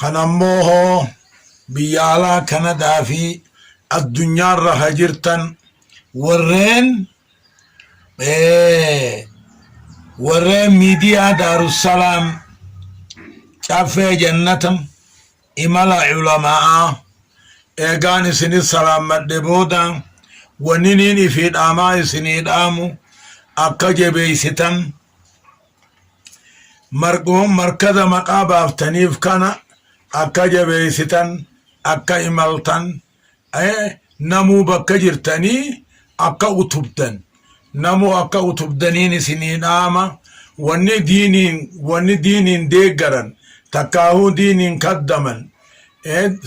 Kan ammoo hoo biyya alaa Kanadaa fi addunyaarra ka jirtan warreen warreen miidiyaa Daarussalaam Caffee Jannata imala Ulama'aa eegaan isinit salaammadhe booda wanniniin ifii dhaamaa isinii dhaamu akka jebeeysitan margoon markaza maqaa baaftaniif kana akka jabeessitan akka imaltan namuu bakka jirtanii akka utubdan namuu akka utubdaniin isinii dhaama wanni diiniin wanni diiniin deeggaran takkaahuu diiniin kaddaman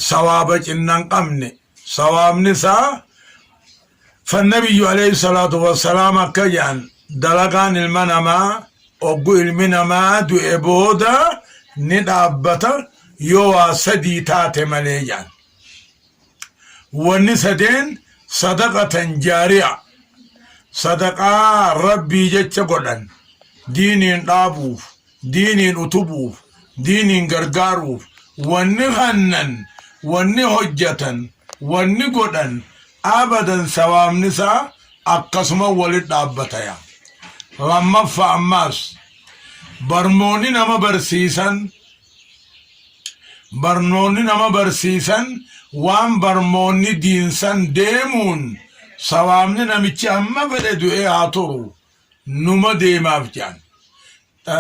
sawaaba cinnan qabne sawaabni isaa Fannabiyyu alayhi salaatu wassalaam akka jedhan dalagaan ilma namaa oggu ilmi namaa du'e booda ni dhaabbata yoo waa sadii taate malee jedhan wanni sadeen sadaqatan jaariya sadaqaa rabbii jecha godhan diiniin dhaabuuf diiniin utubuuf diiniin gargaaruuf wanni hannan wanni hojjatan wanni godhan abadan sawaabni isaa akkasuma walit dhaabbataya lammaffa ammaas barnoonni nama barsiisan barnoonni nama barsiisan waan barmoonni diinsan deemuun sawaabni namichi amma fedhe du'ee haa turu numa deemaaf jedhan.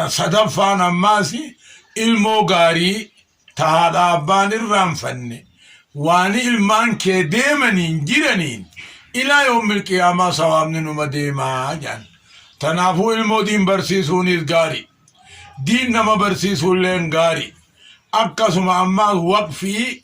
Sadaffaan ammaas ilmoo gaarii ta haadha abbaan irraanfanne waani ilmaan kee deemaniin jiraniin ilaa yoommil qiyaamaa sawaabni numa deemaa jedhan. Tanaafuu ilmoo diin barsiisuunis gaari. Diin nama barsiisuulleen gaari. Akkasuma ammaas waqfii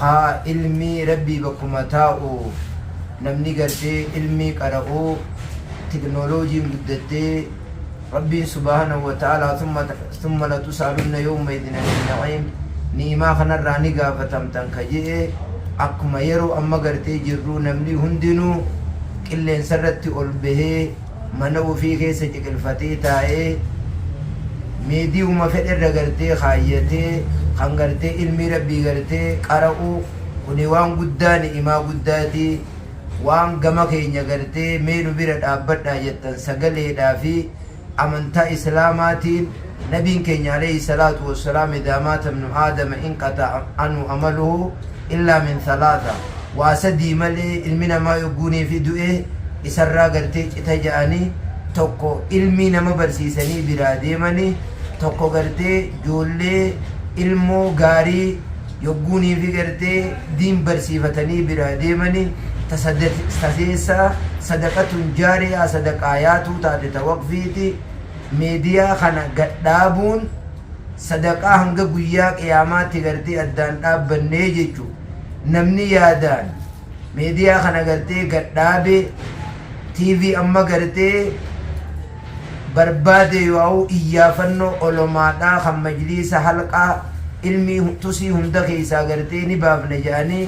Kaa ilmii rabbii bakkuma taa'u namni gartee ilmii qara'u technologiin guddattee rabbiin subahanahu wa ta'alaa thumma thumma latusaalunna yawma idhin anin na'iim ni'imaa kanarraa ni gaafatamtan ka je'e akkuma yeroo amma gartee jirruu namnii hundinuu qilleensarratti ol bahee Mana ufii keessa ciqilfatee taa'ee mediuma fedhe irra gartee kaayyatee kan gartee ilmii rabbii gartee qara'u kuni waan guddaa ni'imaa guddaati waan gama keenya gartee mee nu bira dhaabbadhaa jettan sagaleedhaa fi amantaa islaamaatiin Nabiin keenya aleyhi salaatu wassalaam idaa maata ibnu aadama inqata'a anhu amaluhu illaa min thalaatha waa sadii malee ilmi namaa yogguu neefi du'e isarraa gartee cita ja'ani tokko ilmii nama barsiisanii biraa deemani tokko gartee joollee ilmoo gaarii yogguu neefi gartee diin barsiifatanii biraa deemani ta sadeessaa sadaqatun jaariyaa sadaqaa yaatuu taate ta waqfiiti Media kana gad dhaabuun sadaqaa hanga guyyaa qiyaamaatti gartee addaan dhaabbannee jechu namni yaadaan media kana gartee gad dhaabe TV amma gartee barbaade yoaa'u iyyaafannoo olomaadhaa kan majliisa halqaa ilmii tusii hunda keessaa gartee ni baafna ja'anii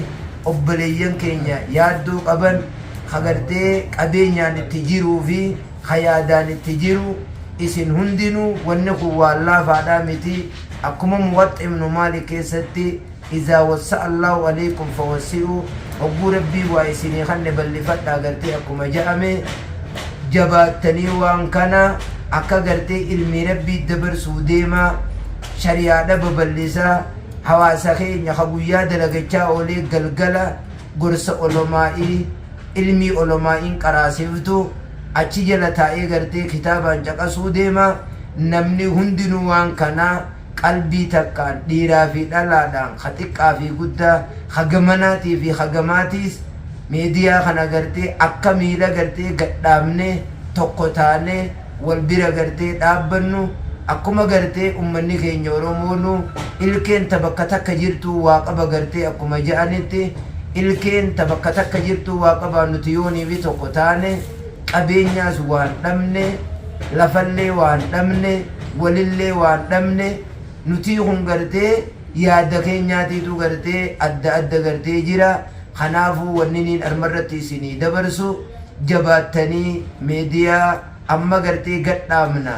obboleeyyan keenya yaaddoo qaban ka gartee qabeenyaan itti jiruu fi ka yaadaan itti jiru isin hundinuu wanni kun waan laafaadhaa miti akkuma muwaxxa ibnu maalik keessatti izaa wassa'a allaahu aleykum fawassi'uu hogguu rabbiin waa isinii kanne ballifadhaa gartee akkuma ja'ame jabaattanii waan kana akka gartee ilmii rabbii dabarsuu deemaa shariyaadha baballisaa hawaasa keenya ka guyyaa dalagachaa oolee galgala gorsa olomaaii ilmii olomaain qaraasiftu achi jala taa'ee gartee kitaabaan caqasuu deema namni hundinuu waan kana qalbii takkaan dhiiraa fi dhalaadhaan ka xiqqaa fi guddaa ka gamanaatii fi ka gamaatiis media kana gartee akka miila gartee gad dhaabnee tokko taanee wal bira gartee dhaabbannu akkuma gartee ummanni keenya Oromoonu ilkeen ta bakka takka jirtuu waa qaba gartee akkuma ja'anitti ilkeen ta bakka takka jirtuu waa qabaa nuti yooniifi tokko taane qabeenyaas waan dhabne lafallee waan dhabne walillee waan dhabne nutii kun gartee yaadda keenyaatiitu gartee adda adda gartee jira kanaafuu wanniniin armarratti isinii dabarsu jabaattanii media amma gartee gadhaabna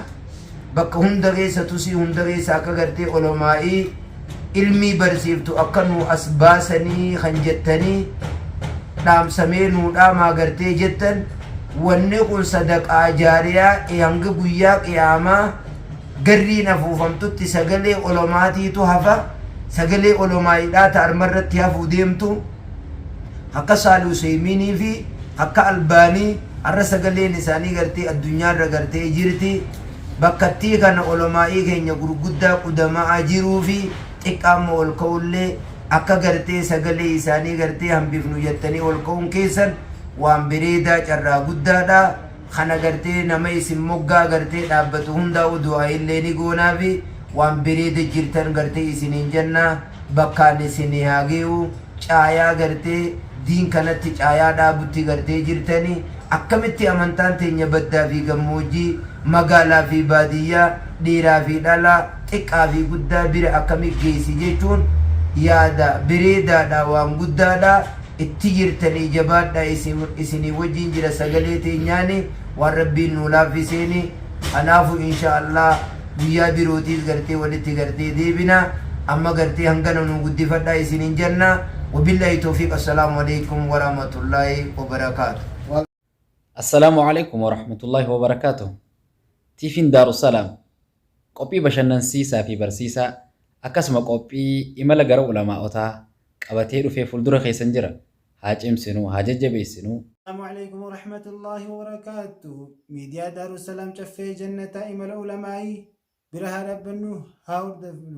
bakka hunda keessa tusii hunda keessa akka gartee olomaa'ii ilmii barsiiftu akka nuu as baasanii kan jettanii dhaamsamee nuu dhaamaa gartee jettan wanni kun sadaqaa jaariyaa e hanga guyyaa qiyaamaa garriin afuufamtutti sagalee olomaatiitu hafa sagalee olomaa'iidhaa ta armarratti hafuu deemtu Akka Saali Useeymiinii fi akka Albaanii arra sagaleen isaanii gartee addunyaa irra gartee jirti. Bakkattii kana olamaa'ii keenya gurguddaa qudama'aa jiruu fi xiqqaa amma ol ka'ullee akka gartee sagalee isaanii gartee hambifnu jattanii ol ka'uun keessan waan bereedaa carraa guddaadha. Kana gartee nama isin moggaa gartee dhaabbatu hundaa'uu du'aa'iillee ni goonaafi waan bereeda jirtan gartee isiniin janna. bakkaan isinii haa ge'uu caayaa gartee diin kanatti caayaa dhaabutti gartee jirtani akkamitti amantaan teenya baddaa fi gammoojjii magaalaa fi baadiyyaa dhiiraa fi dhalaa xiqqaa fi guddaa bira akkami geessi jechuun yaada bereedaadha waan guddaadha itti jirtanii jabaadha isinii wajjiin jira sagalee teenyaani waan rabbiin nuu laaffiseeni Kanaafu insha Allah guyyaa birootiis gartee walitti gartee deebina amma gartee hangana nuu guddifadhaa isinin janna wabillahi towfiq assalaamu aleykum waramatullahi wabarakaatu. Assalamu Alaikum Warahmatullahi Wabarakatuh TVn Daarussalaam qophii bashannansiisaa fi barsiisaa akkasuma qophii imala gara ulamaa'otaa qabatee dhufee fuuldura keessan jira. haa cimsinuu, haa jajjabeessinuu. Assalaamu Aleykum Warahmatullaahi Wabarakaatuhu Miidiyaa Daarussalaam Caffee Jannataa Imala Ulamaa'ii Bira Haa Dhaabbannu Haa Hordofnu.